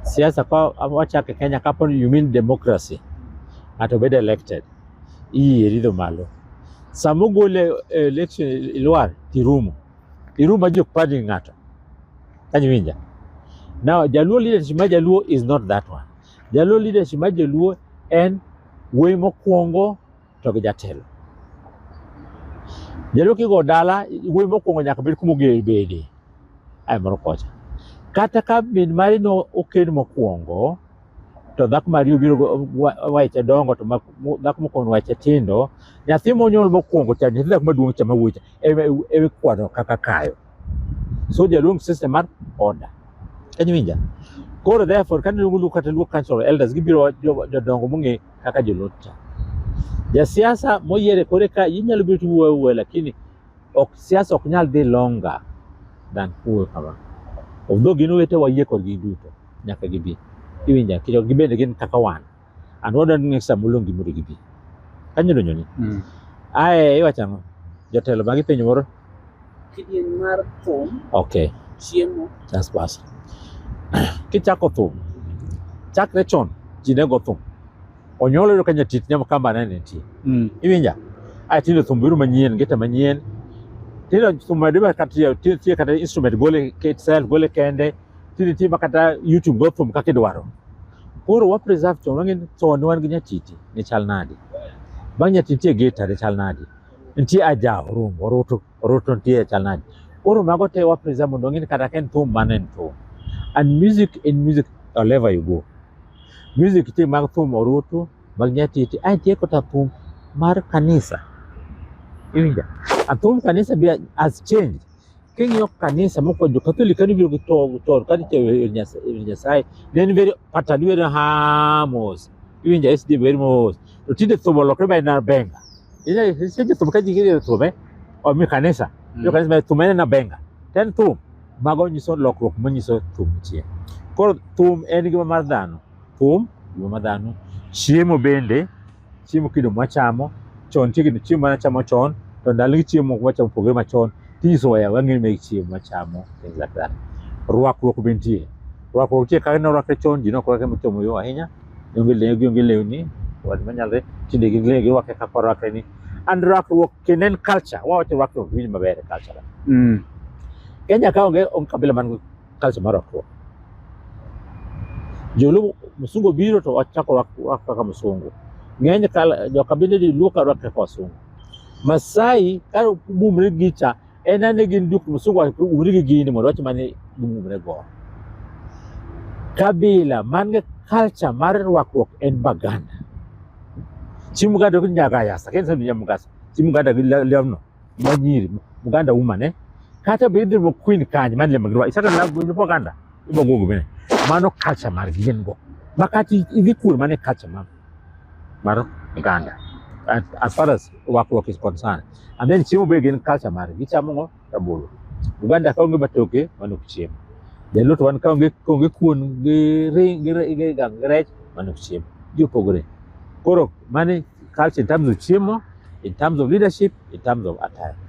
Siasa kwa wachake Kenya kapo ni you mean democracy. Ato bed elected. Iyi eridho malo. Sama ogole eh, election ilwar tirumo. Irumo ajo padi ng'ato. Kanyo winja. Now Jaluo leadership ma Jaluo is not that one. Jaluo leadership ma Jaluo en wuoyi mokwongo to gi jatelo. Jalo kigo dala wuoyi mokwongo nyaka bed kuma oger bede ae moro kocha. Kata ka min mari no okend mokwongo to dhako mari obiro wache dongo to dhako mokwongo wache tindo nyathi monyuol mokwongo cha nyathi dhako maduong' cha mawuoyi cha ewe kwano kaka kayo. So jaluong system mar order. Kanyowinja? Koro therefore kane luongo kata luo council elders gibiro jodongo mong'e kaka jolotcha. Jasiasa moyiere kore ka inyalo biro tiwuoyo awuoya lakini ok siasa ok nyal dhi longa than kuwe kama. Although gin wete wayie kodgi duto nyaka gibi. Iwinja kicho gibende gin kaka wan. An wadwa ni ng'esa molongi mondo gibi. Kanyo donjo ni. Mm. Ae iwacho ang'o? Jotelo magi penjo moro Kidieny mar thum. Okay. Chiemo. That's basi. Kichako thum. Chakre chon ji ne go thum. Onyuol yudo ka nyatit nyama kamba ne nitie. Mm. Iwinja? Ai tinde thum biro manyien, gita manyien. Tinde thum ma dima kata tie kata instrument gole itself gole kende. Tinde tie kata YouTube go thum kaka idwaro. Koro wa preserve chon wang'e chon wan gi nyatiti ne chal nadi. Bang' nyatiti e gita ne chal nadi. nitie aja orum orutu orutu nitie e chal nade koro mago te wa preserve mondo ong'e ni kata ka en thum mano en thum and music in music wherever you go music nitie mag thum orutu mag nyatiti ae nitie kata thum mar kanisa iwinja a thum kanisa be has changed King'iyo kanisa mokwongo jo-Katholik kane ibiro gi to- chon kane itewo ir Nyas- ir Nyasaye ne en very pattern iwero ha mos iwinjo SD wer mos to tinde thum olokre ma en abenga iseche thum ka ji gidhi thum eh omi kanisa jo kanisa ma thum en abenga to en thum mago nyiso lokruok manyiso thum chien koro thum en gima mar dhano thum gima mar dhano chiemo bende chiemo kido mwachamo chon chiegni chiemo mane achamo chon to ndalogi chiemo moko mwachamo opogore machon tinyiso waya wang'eyo ni chiemo mwachamo things like that rwakruok be nitie rwakruok nitie kaka norwakre chon ji nok rwakre mochomo yo ahinya gionge lewni gionge lewni wad manyalre tinde gilewni girwakre kaka orwakre ni and rwakruok kendo en culture wawacho rwakruok winj maber e culture kenya ka onge onge kabila man kazi mara kwa julu musungu biro to wachako wako kaka musungu ng'eny kala jo kabinde di luo ka rwake kwa sungu masai ka bumre gicha en ane gin duk musungu umri gi gini mondo wach mane bumre go kabila man gi culture mar rwakruok en baganda chi muganda gi nyagayasa kensa nyamugasa chi muganda gi lewno Majiri Uganda woman eh kata be idhi queen kanyo man le magirwa isaka na gwinjo po Uganda ibo gogo bene mano culture mar gin go makati idhi kur mane culture mar mar Uganda as far as wakruok is concerned and then chiemo be gin culture mar gichamo ngo rabolo Uganda ka onge matoke mano chiemo Jaluto wan ka onge kuon gi ring gi rech mano chiemo ji opogore Koro mani culture in terms of chiemo, in terms of leadership, in terms of attire.